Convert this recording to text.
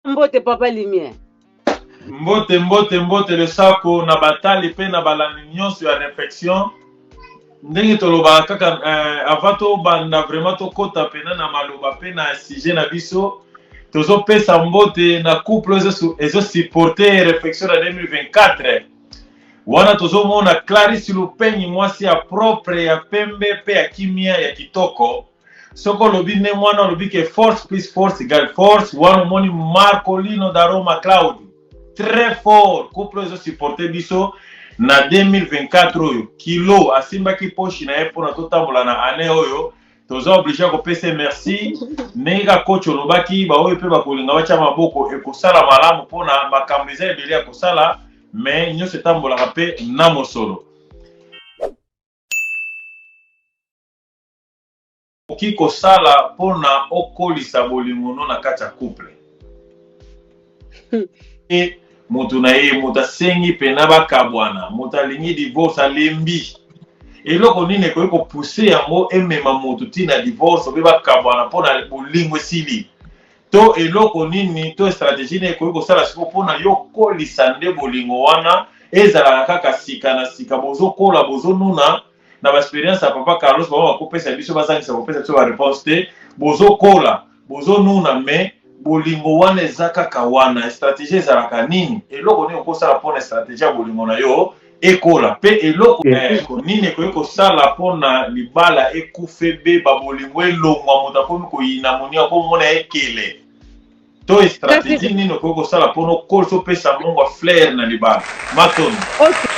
mbote papa lumière mbote mbote mbote lesako na batali mpe na balandi nyonso ya reflexion ndenge tolobaka kaka eh, avant tobanda vraiment tokɔta mpena na maloba mpe na sujet na biso tozopesa mbote na couple ezosupporte reflexion na 2024 Wana tozomona Clarisse Lupegny mwasi ya propre ya pembe pe ya kimia ya kitoko soko olobi nde mwana olobi ke force plus force égale force wana omoni Marcolino da Roma Claudio très fort couple ezo supporter biso na 2024 oyo kilo asimbaki poshi na ye mpona totambola na année oyo toza oblige ya kopesa ye merci ndenge kaka coach olobaki baoyo mpe bakolinga batya maboko ekosala malamu mpona makambo eza ebele ya kosala mais nyonso etambolaka mpe na mosolo okoki kosala mpona okolisa bolingono na kati ya couple e moto na ye moto asengi mpena bakabwana moto alingi divorce alembi eloko nini ekoki kopuse yango emema moto ntina ya divorce obe bakabwana mpo na bolingo esili to eloko nini to strategie nini ekoki kosala siko mpo na yo okolisa nde bolingo wana ezalaka kaka sika na sika bozokola bozonuna na ba experience ya papa Carlos bango bakopesa biso bazangisa kopesa biso ba réponse te bozokola bozonuna mais bolingo wana eza kaka wana stratégie ezalaka nini eloko nini okosala mpona stratégie ya bolingo na yo ekola mpe eloko eh, nini ekoki kosala mpona libala ekufa ebeba bolingo elongwa moto akomi koyina moni akomona ekele to strategie nini okoki kosala mpo nokosa opesa mongwa flair na libala matoni okay.